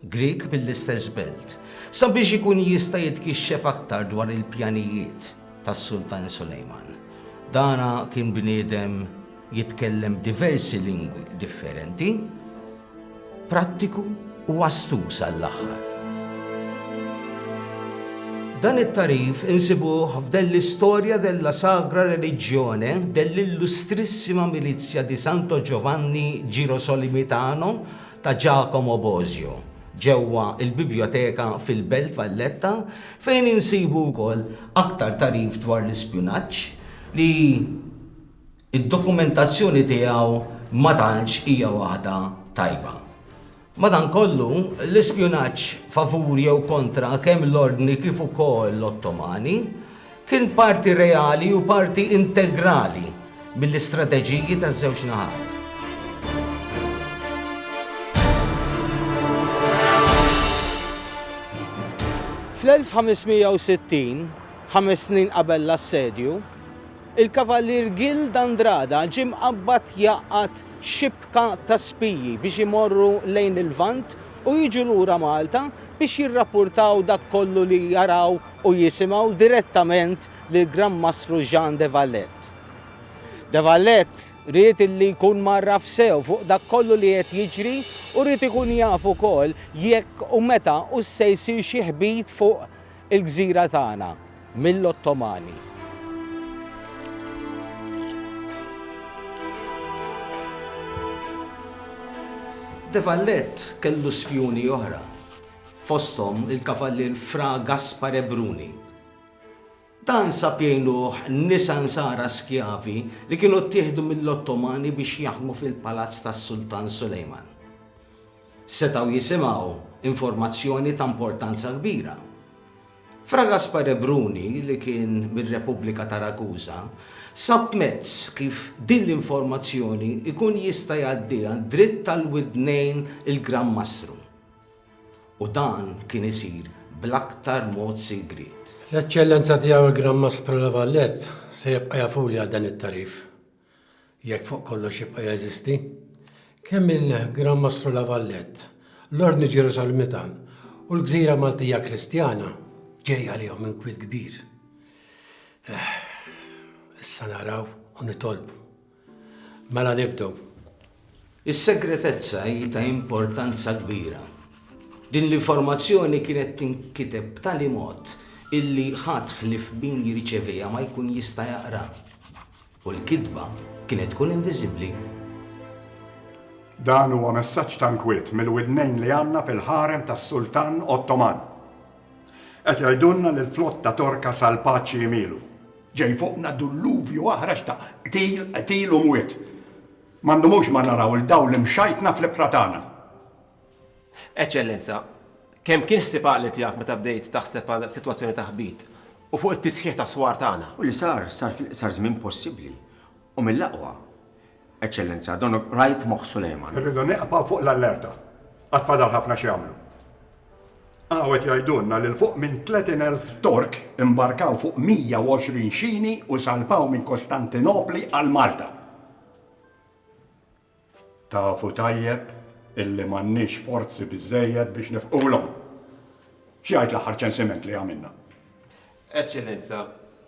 Grieg mill-istess belt, sabiex ikun jista' jitkixxef aktar dwar il-pjanijiet tas-Sultan Sulejman. Dan kien bniedem jitkellem diversi lingwi differenti, prattiku u astuz għall-aħħar. Dan it-tagħrif insibuh f'Dell'istoria della Sagra Religione dell'Illustrissima Milizia di Santo Giovanni Girosolimitano ta' Giacomo Bosio ġewwa l-Bibljoteka fil-Belt Valletta fejn insibu wkoll aktar tagħrif dwar l-ispjunaġġ li d-dokumentazzjoni tiegħu ma tantx hija waħda tajba. Madankollu, l-ispjunaġġ favur jew kontra kemm l-Ordni kif ukoll l-Ottomani Kien parti reali u parti integrali mill-istrateġiji taż-żewġ naħat. Fl-1560, ħames snin qabel l-assedju, il-Kavalier Gil d'Andrada ġie mqabbad jaqgħad xibka ta' spiji biex imorru lejn il-Lvant u jiġu lura Malta biex jirrapportaw dak kollu li jaraw u jisimgħu direttament lill-Gran Mastru Jean de Valette. De Valette ried li jkun mgħarraf sew fuq dak kollu li qed jiġri u ried ikun jaf ukoll jekk u meta hux se jsir xi ħbit fuq il-gżira tagħna mill-Ottomani. De Valette kellu spjuni oħra. fosthom il-Kavallier Fra Gaspare Bruni. Dan sab jgħinuh nisa Nsara skjavi li kienu ttieħdu mill-Ottomani biex jaħdmu fil-palazz tas-Sultan Sulejman. Setgħu jisimgħu informazzjoni ta' importanza kbira. Fra Gaspare Bruni, li kien mir-Repubblika ta' Ragusa, sab mezz kif din l-informazzjoni jkun jista' jgħaddiha dritt għall-widnejn il-Gran Mastru. u dan kien isir bl-aktar mod sigriet. L-Eċċellenza Tiegħu il-Gran Mastru La Valette se jibqa' jafuli għal dan it-tagħrif, jekk fuq kollox jibqa' jeżisti. Kemm il-Gran Mastru La Valette, l-Ordni Ġerusalemita u l-Gżira Maltija Kristjana ġej għalihom inkwiet kbir. Issa naraw u nitolbu. Mela nibdew. Is-segretezza hi ta' importanza kbira. Din l-informazzjoni kienet tinkiteb b'tali mod illi ħadd ħlief min jirċeviha ma jkun jista' jaqraha. U l-kitba kienet tkun inviżibbli. Dan huwa messaġġ ta' nkwiet mill-widnejn li għandna fil-ħarem tas-Sultan Ottoman. Qed jgħidulna li l-flotta Torka sal-paċi jmielu. Ġej fuqna dulluvju aħrax ta' qtil, qtil u mwiet. Ma ndumux ma naraw il-dawl imxajtna fl-ibħra tagħna. Eċċellenza, kemm kien ħsieb għaqli tiegħek meta bdejt taħseb għal sitwazzjoni ta' ħbit u fuq it-tisħiħ tas-swar tagħna? U li sar, sar fil-iqsar żmien possibbli. U mill-aqwa, Eċċellenza, Don Wright Moħħ Sulejman. Irridu neqbgħu fuq l-allerta. Għad fadal ħafna x'jagħmlu. Hawn qed jgħidulna li 'l fuq minn 30 elf Tork imbarkaw fuq 120 xini u salpaw minn Kostantinopli għal Malta. Tafu tajjeb illi m'għandniex forzi biżżejjed biex nifqulhom. X'jgħid l-aħħar ċensiment li għamilna? Eċċellenza,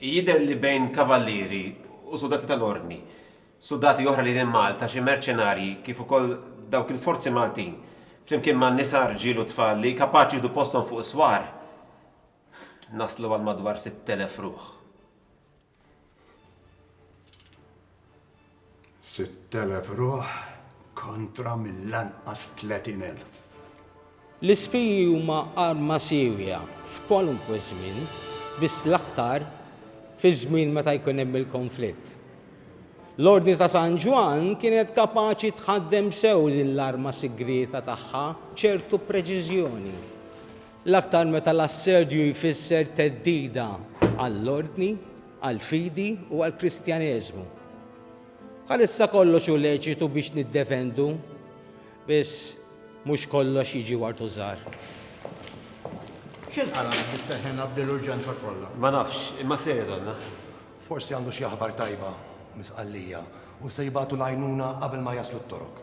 jidher li bejn kavallieri u suldati tal-Ordni, suldati oħra li minn Malta, xi merċenarji kif ukoll dawk il-forzi Maltin, flimkien ma' nisa, rġiel u tfal li kapaċi jieħdu posthom fuq is-swar, naslu għal madwar sitt elef ruħ. 6,000 ruħ kontra mill-anqas 30,000. L-ispiji huma arma siewja f'kwalunkwe żmien, biss l-aktar fiż-żmien meta jkun hemm il-konflitt. L-Ordni ta' San Ġwann kienet kapaċi tħaddem sew din l-arma sigrieta tagħha b'ċertu preċiżjoni. l-aktar meta l-assedju jfisser theddida għall-ordni, għall-fidi u għall-Kristjaneżmu. Bħalissa kollox hu leċitu biex niddefendu, biss mhux kollox jiġi wartu żgħar. X'inqala' bis-seħħena b'din l-urġenza kollha? Ma nafx, imma se jgħidulna. Forsi għandu xi aħbar tajba mis-Sqallija u se jibagħtu l-għajnuna qabel ma jaslu t-Torok.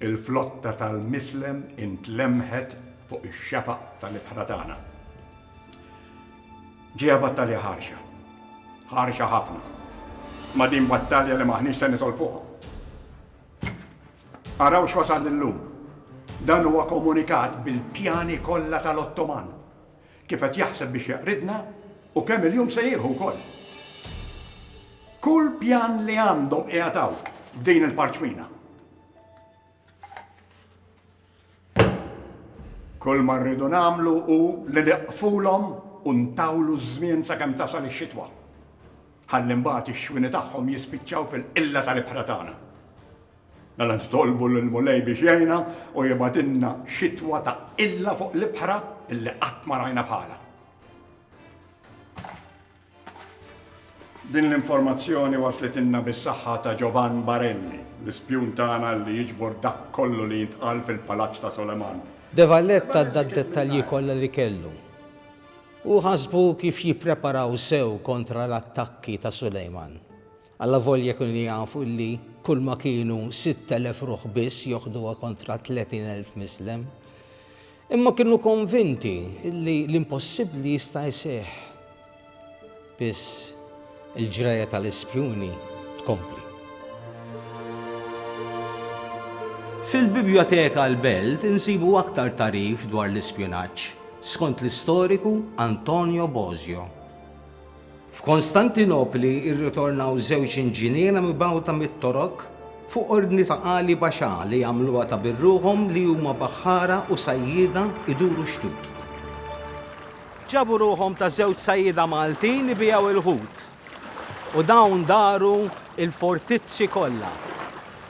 Il-flotta tal-mislem intlemmħet fuq ix-xefaq tal-ibħra tagħna. Ġejja battalja ħarxa. Ħarxa ħafna. Ma din battalja li maħniex se nitol fuqha. Araw x'wasal illum. Dan huwa komunikat bil-pjani kollha tal-Ottoman. Kif qed jaħseb biex jaqridna u kemm il-jum se jieħu wkoll. Kull pjan li għandhom qiegħed hawn f'din il-parċmina. Kull ma rridu nagħmlu hu li niqfulhom u ntawlu ż-żmien sakemm tasal ix-xitwa. Ħalli mbagħad ix-xwini tagħhom jispiċċaw fil-qilla tal-ibħra tagħna. Mela nitolbu lill-Mulej biex jgħinna u jibgħatilna xitwa ta' qilla fuq l-ibħra li qatt ma rajna bħalha. Din l-informazzjoni waslitilna bis-saħħa ta' Giovan Barelli, l-ispjun tagħna li jiġbor dak kollu li jintqal fil-Palazz ta' Soleman. De Valletta ta d-dettalji kollha li kellu. Hu ħasbu kif jippreparaw sew kontra l-attakki ta' Sulejman. Allavolja kienu jafu illi kulma kienu sitt elef ruħ biss joħduha kontra tletin elf Mislem, imma kienu konvinti illi l-impossibbli jista' jseħħ. Biss il-ġrajja tal-ispjuni tkompli. Fil-Bibjoteka l-Belt insibu aktar tagħrif dwar l-ispjunaġġ, skont l-istoriku Antonio Bosio. F'Kostantinopli rritornaw żewġ inġiniera mibgħuta mit-Torok fuq ordni ta' Ali Basha li jagħmluha ta' birruħhom li huma baħħara u sajjieda jduru xtut. Ġabu ruħhom ta' żewġ sajjieda Maltin ibigħu l-ħut u dawn daru l-fortizzi kollha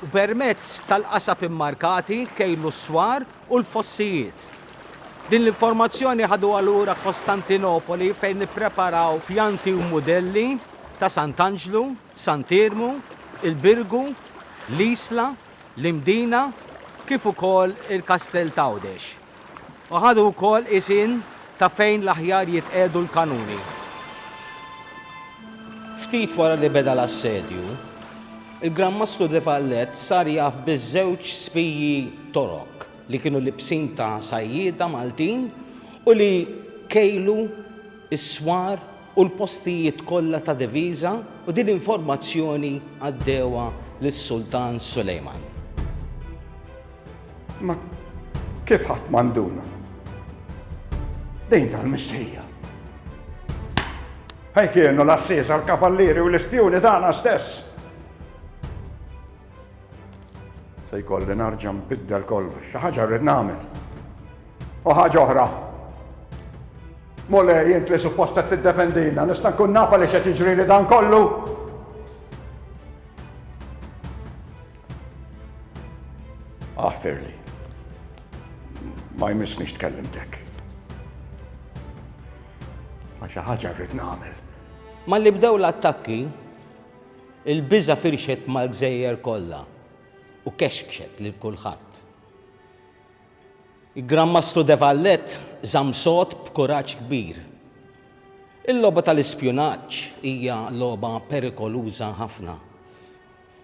u permezz tal-qasab immarkati kejlu s-swar u l-fossijiet Din l-informazzjoni ħaduha lura Kostantinopoli fejn nippreparaw pjanti u mudelli ta' Sant'Anġlu, Sant'Iermu, il-Birgu, l-Isla, l-Imdina kif ukoll il-Kastell t'Għawdex. U ħadu wkoll qisien ta' fejn l-aħjar jitqiegħdu l-kanuni. Ftit wara li beda l-assedju, il-Gran Mastru Defallett sar jaf biż-żewġ spiji Torok. li kienu libsin ta' sajjieda Maltin u li kejlu s-swar u l-postijiet kollha ta' diviża u din l-informazzjoni għaddewha lis-Sultan Sulejman. Imma kif ħadd ma nduna? Din tal-mistħija. Fejn kienu l-għassiesa, l-kavallieri u l-ispjuni tagħna stess? Se jkolli narġa' nbiddel kollox, xi ħaġa rrid nagħmel. U ħaġa oħra. Mole, jien li suppost qed tiddefendina, nista' nkun nafa li xed jiġri li dan kollu. Aħfirli. Ma jmissniex tkellimtek. Ma xi ħaġa rrid nagħmel. Malli bdew l-attakki, Il-biża' firxet mal-gżejjer kollha u kexkxet lil kulħadd. Il-Gran Mastru de Valette żamm sod b'kuraġġ kbir. Il-logħba tal-ispjunaġġ hija logħba perikoluża ħafna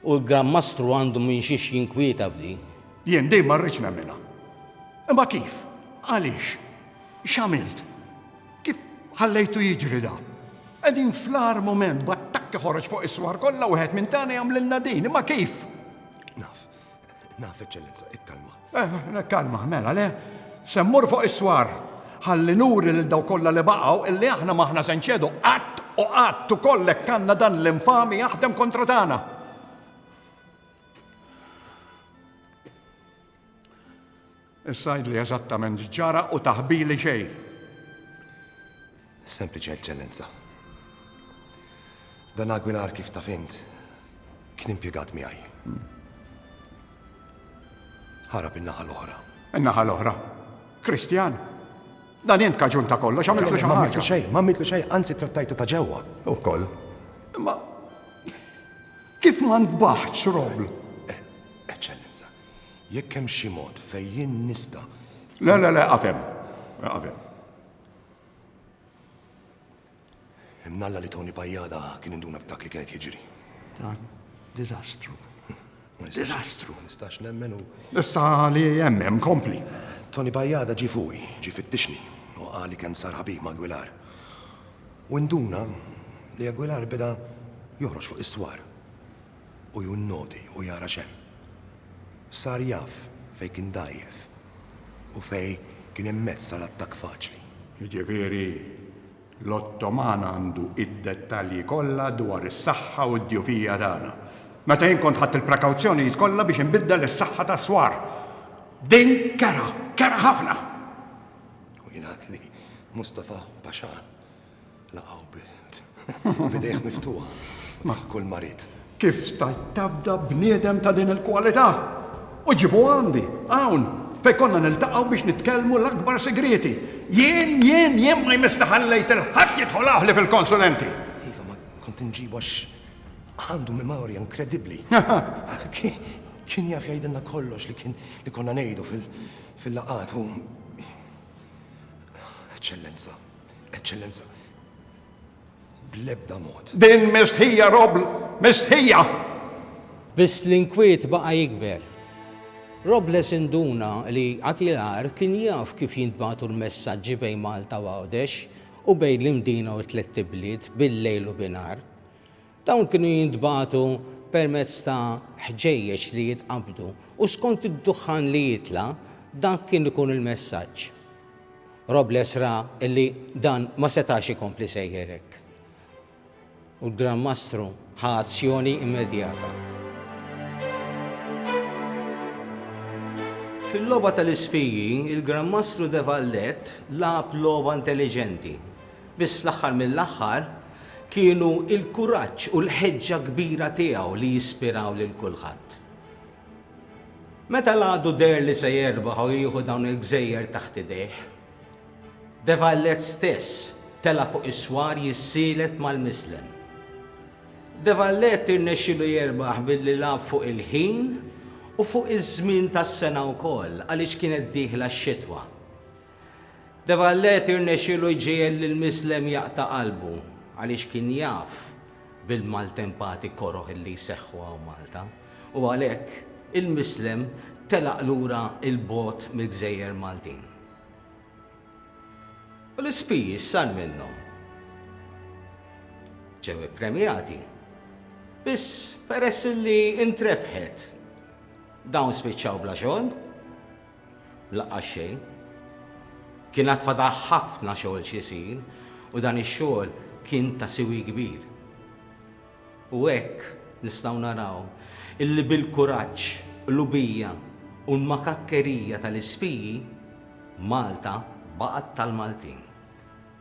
u l-Gran Mastru għandu minn xiex jinkwieta f'din. Jien din ma rridx nemminha. Imma kif? Għaliex? X'għamilt? Kif ħallejtu jiġri da? Qegħdin fl-agħar mument b'attakk iħoroġ fuq is-swar kollha wieħed minn tagħna jagħmlilna din, imma kif? Naf, naf eċċellenza, ikkalma. Eh, kalma, mela le, semmur fuq is-swar. Ħalli nuri lil daw kollha li baqgħu illi aħna maħna se nċedu qatt u qatt ukoll hekk għandna dan l-infami jaħdem kontra tagħna. Issa għidli eżattament x'ġara u taħbili xejn. Sempliċi eċċellenza. Dan Aguilar kif taf int kien impjegat miegħi. Ħarab in-naħa l-oħra. In-naħa l-oħra? Kristjan? Dan int kaġun ta' kollox, għamiltu xi ħaġa. Ma xejn, ma għamiltu xejn, anzi trattajtu ta' ġewwa. Ukoll. Ma kif ma ntbaħx roblu? Jekk hemm xi mod fejn jien nista'. Le, le, le, eqaf hemm. Eqaf hemm. Imnalla li Toni Pajjada kien induna b'dak li kien qed jiġri. Dan diżastru. Diżastru. Ma nistax nemmen u. Issa li hemm hemm kompli. Toni Pajjada ġi fuqi, ġi fittixni, u qali kemm sar ħabib ma' Aguilar. U induna li Aguilar beda joħroġ fuq is-swar. u ju nnoti u jara x'hemm. Sar jaf fejn kien dgħajjef u fejn kien hemm mezz għal attakk faċli. Jiġifieri l-Ottoman għandu id-dettalji kollha dwar is-saħħa u d-djufija tagħna. Meta jien kont ħadt il-prekawzjonijiet kollha biex inbiddel is-saħħa tas-swar. Din kerha, kerha ħafna! U jingħad li Mustafa Pasha Laqgħu bidejh miftuħa ma' kull marid. Kif stajt tafda bniedem ta' din il-kwalità? U ġibu għandi, hawn, fej konna niltaqgħu biex nitkellmu l-akbar sigrieti. Jien, jien, jien ma jmiss li ħallejt il-ħadd jidħol aħli fil-konsulenti. Iva, ma kont nġibu għax għandu memorja inkredibbli. Kien jaf jgħidilna kollox li kien li konna ngħidu fil-laqat u Eċċellenza. Eċċellenza, bl-ebda mod. Din mistħija, Robb, mistħija! Biss l-inkwiet baqa' jikber. Robles induna li Atilar kien jaf kif jintbagħtu l-messaġġi bejn Malta u Għawdex u bejn l-Imdina u t-tlett ibliet bil-lejl u binhar. Dawn kienu jintbagħtu permezz ta' ħġejjeġ li jitqabbdu u skont id-duħħan li jitla' dak kien ikun il-messaġġ. Robles ra li dan ma setax ikompli sejjer hekk u l-Gran Mastru ħa azzjoni immedjata. Fil-logħba tal-ispiji, il-Gran Mastru de Valette lagħab logħba intelliġenti. Biss fl-aħħar mill-aħħar kienu l-kuraġġ u l-ħeġġa kbira tiegħu li jispiraw lil kulħadd. Meta l-għadu deher li se jerbaħ u jieħu dawn il-gżejjer taħt idejh, De Vallet stess tela' fuq is-swar jissielet mal-mislem. De Vallet irnexxielu jerbaħ billi lagħab fuq il-ħin u fuq iż-żmien tas-sena wkoll għaliex kienet dieħla x-xitwa. De Valletti rnexxielu jġiegħel lil Mislem jaqta' qalbu għaliex kien jaf bil-maltempati koroh li jseħħu hawn Malta u għalhekk il-Mislem telaq lura 'l bogħod mill-gżejjer Maltin. U l-ispiji x'sar minnhom? Ġew ippremjati. Biss peress li ntrebħet dawn spiċċaw bla xogħol. L-aqqas xejn. Kien għad fadal ħafna xogħol x'isir u dan ix-xogħol kien ta' siwi kbir. U hekk nistgħu naraw illi bil-kuraġġ, qlubija u l-makakkerija tal-ispiji, Malta baqgħet tal-Maltin.